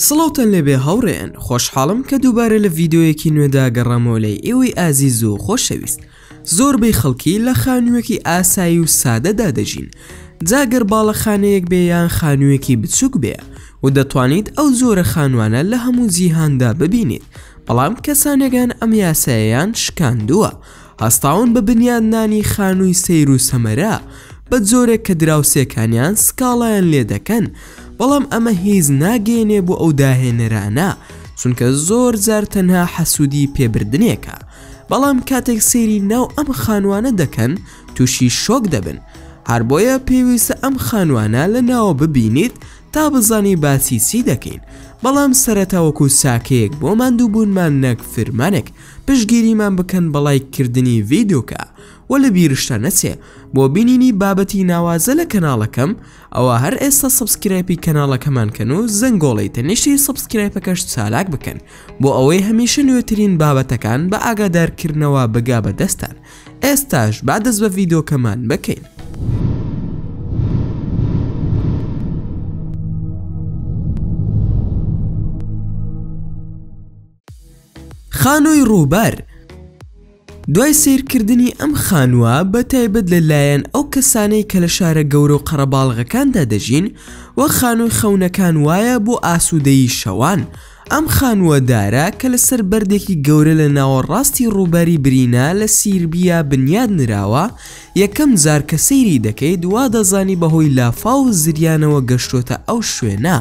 سڵاوتان لێبێ هاوڕێیان خۆشحاڵم کە دووبارە لە ڤیددیوەیەکی نوێدا گەڕامەوە لای ئێوەی ئازیز و خۆشەویست زۆربەی خەڵکی لە خانوویەکی ئاسایی و سادەدا دەژین جاگەر باڵەخانەیەک بێ یان خانوویەکی بچووک بێ و دەتوانیت ئەو زۆرە خانوانە لە هەموو جیهاندا ببینیت بەڵام کەسانێکان ئەم یاسایەیان شکاندووە و هەستاون بە بنیادنانی خانووی سەیر و سەمەرە بە جۆرێک کە دراوسێکانیان سکاڵایان لێ دەکەن، بەڵام ئەمە هیچ ناگەیەنێ بۆ ئەو داهێنەرانە، چونکە زۆر جار تەنها حەسوودیی پێ بردنێکە، بەڵام کاتێک سەیری ناو ئەم خانووانە دەکەن تووشی شۆک دەبن، هەر بۆیە پێویستە ئەم خانووانە لە ناوە ببینیت تا بزانی باسی چی دەکەین، بەڵام سەرەتا وەکو چاکەیەک بۆ ماندووبوونمان نەک فرمانێک. پشتگیریمان بکەن بە ڵایک کردنی ڤیدۆکە وە لە بیرشتان نەچێ بۆ بینینی بابەتی ناوازە لە کەناڵەکەم ئەوا هەر ئێستا سەبسکرایپی کەناڵەکەمان کەن و زەنگۆڵەی تەنیشتی سەبسکرایپەکەش چالاک بکەن بۆ ئەوەی هەمیشە نوێترین بابەتەکان بە ئاگادارکردنەوە بگا بە دەستان ئێستاش با دەست بە ڤیدۆکەمان بکەین. خانووی ڕووبار دوای سەیرکردنی ئەم خانووە بە تایبەت لە لایەن ئەو کەسانەی کە لە شارە گەورە و قەرەباڵغەکاندا دەژین وەک خانووی خەونەکان وایە بۆ ئاسوودەیی شەوان ئەم خانووە دارە کە لەسەر بەردێکی گەورە لە ناوەڕاستی ڕووباری برینا لە سیربیا بنیات نراوە یەکەم جار کە سەیری دەکەیت وا دەزانی بەهۆی لافاو و زریانەوە گەشتۆتە ئەو شوێنە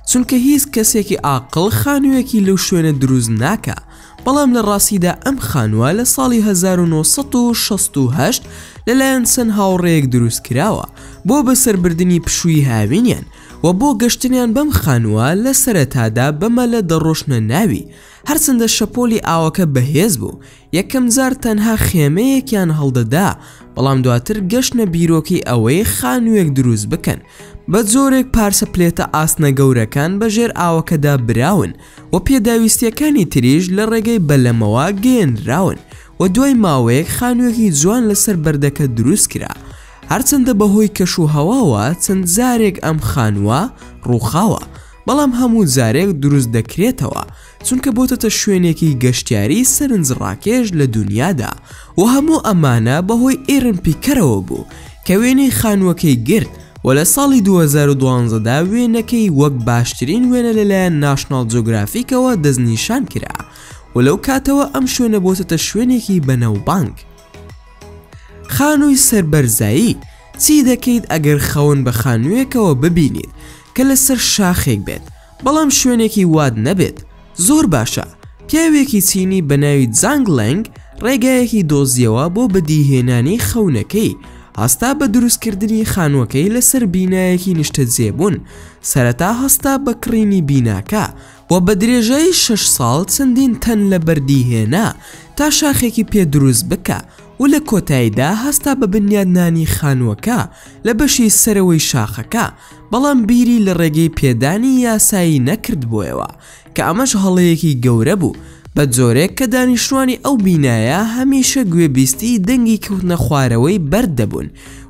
چونکە هیچ کەسێکی ئاقڵ خانوویەکی لەو شوێنە دروست ناکا بەڵام لە ڕاستیدا ئەم خانووە لە ساڵی 1968 لەلایەن چەند هاوڕێیەک دروست کراوە بۆ بەسەربردنی پشووی هاوینیان و بۆ گەشتنیان بەم خانووە لە سەرەتادا بە مەلە دەڕۆشتنە ناوی هەرچەندە شەپۆلی ئاوەکە بەهێز بوو، یەکەم جار تەنها خێمەیەکیان هەڵدەدا، بەڵام دواتر گەشتنە بیرۆکەی ئەوەی خانووێک دروست بکەن، بە جۆرێک پارچە پلێتە ئاسنە گەورەکان بە ژێر ئاوەکەدا براون و پێداویستییەکانی تریش لە ڕێگەی بەلەمەوە گەیێنراون و دوای ماوەیەک خانووێکی جوان لەسەر بەردەکە دروست کرا. هەرچەندە بەهۆی کەشوهەواوە چەند جارێک ئەم خانووە ڕووخاوە، بەڵام هەموو جارێک دروست دەکرێتەوە چونکە بۆتەتە شوێنێکی گەشتیاری سەرنج ڕاکێش لە دونیادا و هەموو ئەمانە بەهۆی ئیرن پیکەرەوە بوو کە وێنەی خانووەکەی گرت و لە ساڵی 2012 دا وێنەکەی وەک باشترین وێنە لەلایەن ناشناڵ جۆگرافیکەوە دەستنیشان کرا و لەو کاتەوە ئەم شوێنە بۆتەتە شوێنێکی بەناوبانگ. خانووی سەر بەرزایی، چی دەکەیت ئەگەر خەون بە خانوویەکەوە ببینیت کە لەسەر شاخێک بێت بەڵام شوێنێکی وات نەبێت؟ زۆر باشە، پیاوێکی چینی بە ناوی جانگ لەنگ ڕێگایەکی دۆزیەوە بۆ بەدیهێنانی خەونەکەی، هەستا بە دروستکردنی خانووەکەی لەسەر بینایەکی نیشتەجێبوون، سەرەتا هەستا بە کڕینی بیناکە، و بە درێژایی شەش ساڵ چەندین تەن لە بەردی هێنا تا شاخێکی پێ دروست بکا و لە کۆتایدا هەستا بە بنیادنانی خانووەکە لە بەشی سەرەوەی شاخەکە بەڵام بیری لە ڕێگەی پێدانی یاسایی نەکردبوویەوە کە ئەمەش هەڵەیەکی گەورە بوو بە جۆرێک کە دانیشتوانی ئەو بینایە هەمیشە گوێبیستی دەنگی کەوتنە خوارەوەی بەرد دەبوون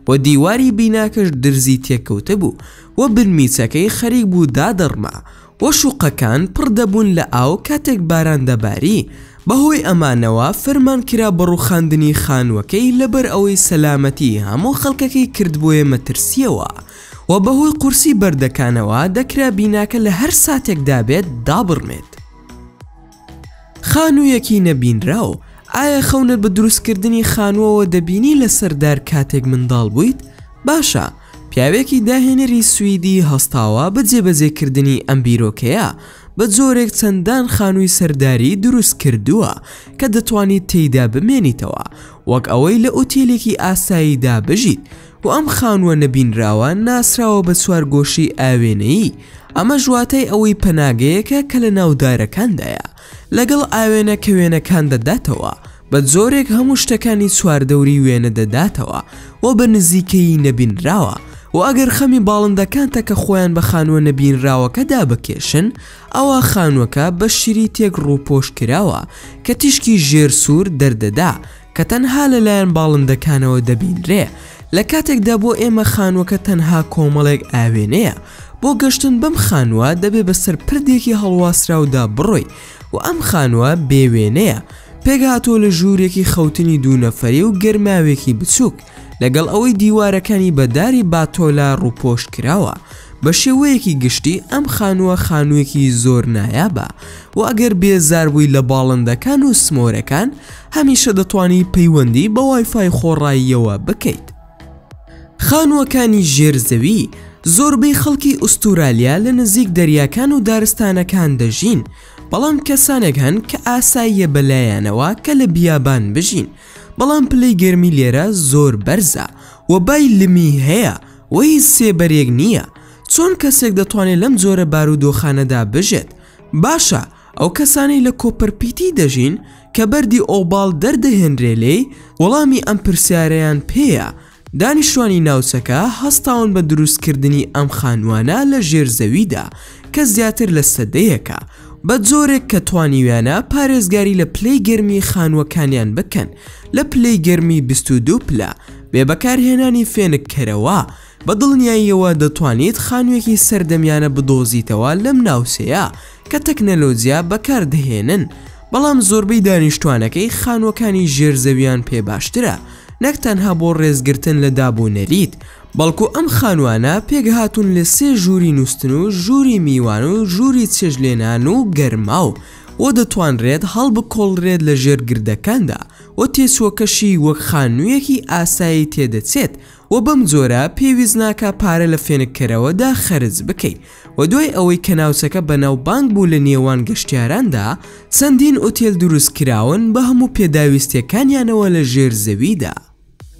و دیواری بیناکەش درزی تێکەوتبوو و بنمیچەکەی خەریک بوو دادەڕما و شوقەکان پڕ دەبوون لە ئاو کاتێک باران دەباری، بەهۆی ئەمانەوە فەرمان کرا بە ڕوخاندنی خانوەکەی لەبەر ئەوەی سەلامەتی هەموو خەڵکەکەی کردبوویە مەترسیەوە و بەهۆی قورسی بەردەکانەوە دەکرا بیناکە لە هەر ساتێکدا بێت دابڕمێت. خانوویەکی نەبینراو، ئایا خەونت بە دروستکردنی خانووەوە دەبینی لەسەر دار کاتێک منداڵ بوویت؟ باشە، پیاوێکی داهێنەری سویدی هەستاوە بە جێبەجێکردنی ئەم بیرۆکەیە، بە جۆرێک چەندان خانووی سەرداری دروست کردووە کە دەتوانیت تێیدا بمێنیتەوە وەک ئەوەی لە ئوتێلێکی ئاساییدا بژیت، و ئەم خانووە نەبینراوە ناسراوە بە چوارگۆشەی ئاوێنەیی، ئەمەش واتای ئەوەی پەناگەیەکە کە لە ناو دارەکاندایە، لەگەڵ ئاوێنە کە وێنەکان دەداتەوە، بە جۆرێک هەموو شتەکانی چواردەوری وێنە دەداتەوە و بە نزیکەیی نەبینراوە، و ئەگەر خەمی باڵندەکانتە کە خۆیان بە خانووە نەبینراوەکەدا بکێشن، ئەوا خانووەکە بە شیری تێک ڕووپۆش کراوە کە تیشکی ژێر سوور دەردەدا، کە تەنها لەلایەن باڵندەکانەوە دەبینرێ، لە کاتێکدا بۆ ئێمە خانووەکە تەنها کۆمەڵێک ئاوێنەیە، بۆ گەشتن بەم خانووە دەبێ بەسەر پردێکی هەڵواسراودا بڕۆی و ئەم خانووە بێ وێنەیە، پێکهاتووە لە ژوورێکی خەوتنی دوو نەفەری و گەرماوێکی بچووک. لەگەڵ ئەوەی دیوارەکانی بە داری باتۆلە ڕووپۆش کراوە، بە شێوەیەکی گشتی ئەم خانووە خانوویەکی زۆر نایابە و ئەگەر بێزار بووی لە باڵندەکان و سمۆرەکان، هەمیشە دەتوانی پەیوەندی بە وایفای خۆڕاییەوە بکەیت. خانووەکانی ژێر زەوی، زۆربەی خەڵکی ئوستورالیا لە نزیک دەریاکان و دارستانەکان دەژین، بەڵام کەسانێک هەن کە ئاساییە بەلایانەوە کە لە بیابان بژین، بەڵام پلەی گەرمی لێرە زۆر بەرزە و بای لمی هەیە و هیچ سێبەرێک نییە. چۆن کەسێک دەتوانێت لەم جۆرە بارودۆخانەدا بژێت؟ باشە ئەو کەسانەی لە کۆپەرپیتی دەژین کە بەردی ئۆباڵ دەردەهێنرێ لێی، وەڵامی ئەم پرسیارەیان پێیە دانیشتوانی ناوچەکە هەستاون بە دروستکردنی ئەم خانووانە لە ژێر زەویدا کە زیاتر لە سەدەیەکە، بە جۆرێک کە توانیویانە پارێزگاری لە پلەی گەرمی خانووەکانیان بکەن لە پلەی گەرمی 22 پلە، بێ بەکارهێنانی فێنککەرەوە، بە دڵنیاییەوە دەتوانیت خانووێکی سەردەمیانە بدۆزیتەوە لەم ناوچەیە، کە تەکنەلۆجیا بەکار دەهێنن، بەڵام زۆربەی دانیشتوانەکەی خانووەکانی ژێر زەویان پێ باشترە، نەک تەنها بۆ ڕێزگرتن لە داب و نەریت، بەڵکو ئەم خانووانە پێکهاتوون لە سێ ژووری نووستن و ژووری میوان و ژووری چێشتلێنان و گەرماو و دەتوانرێت هەڵبکۆڵرێت لە ژێر گردەکاندا و تێچووەکەشی وەک خانوویەکی ئاسایی تێدەچێت و بەم جۆرە پێویست ناکا پارە لە فێنککەرەوەدا خەرج بکەی و دوای ئەوەی کە ناوچەکە بەناوبانگ بوو لە نێوان گەشتیاراندا، چەندین ئوتێل دروستکراون بە هەموو پێداویستییەکانیانەوە لە ژێر زەویدا.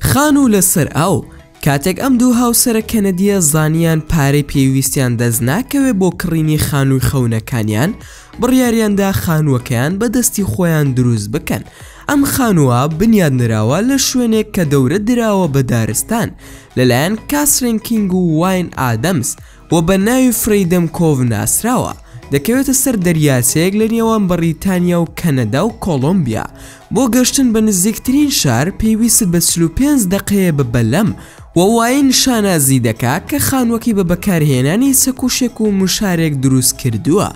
خانوو لەسەر ئاو، کاتێک ئەم دوو هاوسەرە کەنەدییە زانییان پارەی پێویستیان دەست ناکەوێت بۆ کڕینی خانووی خەونەکانیان، بڕیاریاندا خانووەکەیان بە دەستی خۆیان دروست بکەن. ئەم خانووە بنیادنراوە لە شوێنێک کە دەورە دراوە بە دارستان لەلایەن کاسرین کینگ و واین ئادەمز، و بە ناوی فرەیدەم کۆڤ ناسراوە، دەکەوێتە سەر دەریاچەیەک لە نێوان بەڕیتانیا و کەنەدا و کۆڵۆمبیا، بۆ گەشتن بە نزیکترین شار پێویستت بە چل و پێنج دەقەیە بە بەلەم، و واین شانازی دەکا کە خانووەکەی بە بەکارهێنانی چەکوشێک و مشارێک دروستکردووە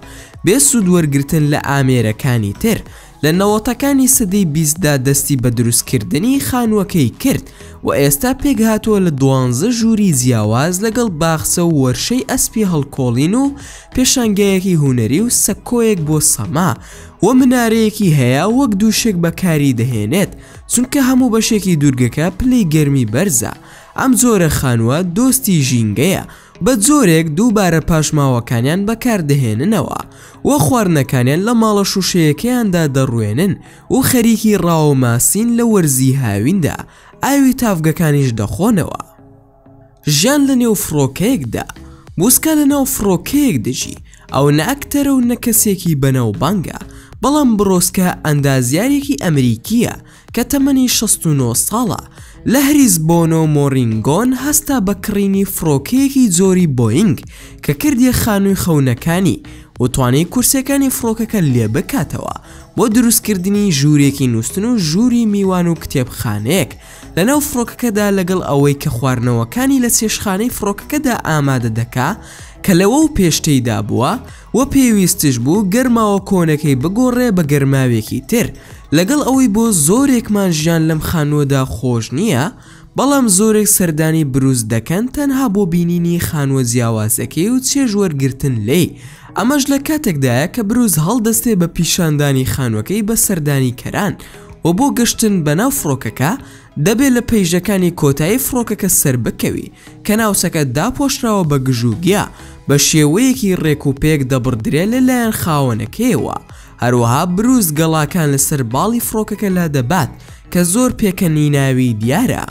بێ سوود وەرگرتن لە ئامێرەکانی تر، لە نەوەتەکانی سەدەی بیستدا دەستی بە دروستکردنی خانووەکەی کرد و ئێستا پێکهاتووە لە دوانزە ژووری جیاواز لەگەڵ باخچە و وەرشەی ئەسپی هەڵکۆڵین و پێشانگایەکی هونەری و سەکۆیەک بۆ سەما و منارەیەکی هەیە وەک دووشک بەکاری دەهێنێت چونکە هەموو بەشێکی دوورگەکە پلەی گەرمی بەرزە ئەم جۆرە خانووە دۆستی ژینگەیە بە جۆرێک دووبارە پاشماوەکانیان بەکاردەهێننەوە و خواردنەکانیان لە ماڵە شووشەیەکەیاندا دەڕوێنن و خەریکی ڕاوەماسین لە وەرزی هاویندا، ئاوی تاڤگەکانیش دەخۆنەوە. ژیان لە نێو فڕۆکەیەکدا. بووسکا لە ناو فڕۆکەیەک دەژی، ئەو نە ئەکتەرە و نە کەسێکی بەناوبانگە، بەڵام برۆسکا ئەندازیارێکی ئەمریکییە، کە تەمەنی شەست و نۆ ساڵە، لە هریس بۆنۆ مۆرینگۆن هەستا بە کڕینی فڕۆکەیەکی جۆری بۆینگ کە کردیە خانووی خەونەکانی و توانی کورسیەکانی فڕۆکەکە لێ بکاتەوە بۆ دروستکردنی ژوورێکی نووستن و ژووری میوان و کتێبخانەیەک لەناو فڕۆکەکەدا لەگەڵ ئەوەی کە خواردنەوەکانی لە چێشتخانەی فڕۆکەکەدا ئامادە دەکا کە لەوەو پێش تێیدا بووە وە پێویستش بوو گەرماوە کۆنەکەی بگۆڕێ بە گەرماوێکی تر لەگەڵ ئەوەی بۆ زۆرێکمان ژیان لەم خانووەدا خۆش نییە بەڵام زۆرێک سەردانی برووس دەکەن تەنها بۆ بینینی خانووە جیاوازەکەی و چێژ وەرگرتن لێی ئەمەش لە کاتێکدایە کە برووس هەڵدەستێ بە پیشاندانی خانووەکەی بە سەردانیکەران وە بۆ گەشتن بەناو فڕۆکەکە دەبێت لە پەیژەکانی کۆتایی فڕۆکەکە سەربکەوی کە ناوچەکە داپۆشراوە بە گژ و گیا بە شێوەیەکی ڕێک و پێک دەبڕدرێ لە لایەن خاوەنەکەیەوە هەروەها بروس گەڵاکان لەسەر باڵی فڕۆکەکە لادەبات کە زۆر پێکەنیناوی دیارە.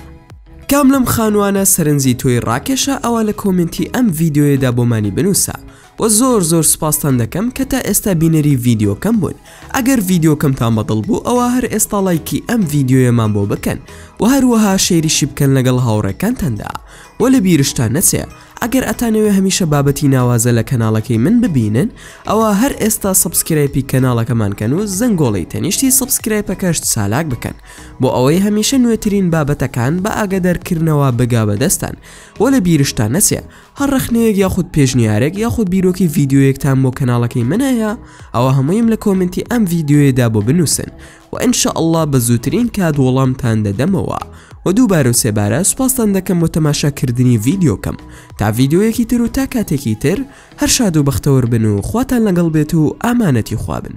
کام لەم خانوانە سەرنجی تۆی ڕاکێشا ئەوا لە کۆمێنتی ئەم ڤیدیۆیەدا بۆمانی بنووسە وە زۆر زۆر سوپاستان دەکەم کە تا ئێستا بینەری ڤیدیۆکەم بوون ئەگەر ڤیدیۆکەمتان بەدڵ بوو ئەوا هەر ئێستا ڵایکی ئەم ڤیدیۆیەمان بۆ بکەن وە هەروەها شەیریشی بکەن لەگەڵ هاوڕێکانتاندا وە لە بیرشتان نەچێ ئەگەر ئەتانەوێ هەمیشە بابەتی ناوازە لە کەناڵەکەی من ببینن ئەوە هەر ئێستا سبسکرایپی کەناڵەکەمانکەن و زەنگۆڵی تەنیشتی سبسکرایپەکەشت سالاک بکەن بۆ ئەوەی هەمیشە نوێترین بابەتەکان بە ئاگەدەرکردنەوە بگا بەدەستان وە لە بیرشتان نەچێ هەر ڕەخنەیەک یاخود پێشنیارێک یاخود بیرۆکەی ڤیدیۆیەکتان بۆ کەناڵەکەی من هەیە ئەوا هەموویم لە کۆمێنتی ئەم ڤیدیۆیەدا بۆ بنووسن و ان شاء اللە بە زووترین کات وەڵامتان دەدەمەوە و دووبارە و سێبارە سوپاستان دەکەم بۆ تەماشاکردنی ڤیدیۆکەم تا ڤیدیۆیەکی تر و تا کاتێکی تر هەر شاد و بەختەوەر بن و خواتان لەگەڵ بێت و ئامانەتی خوابن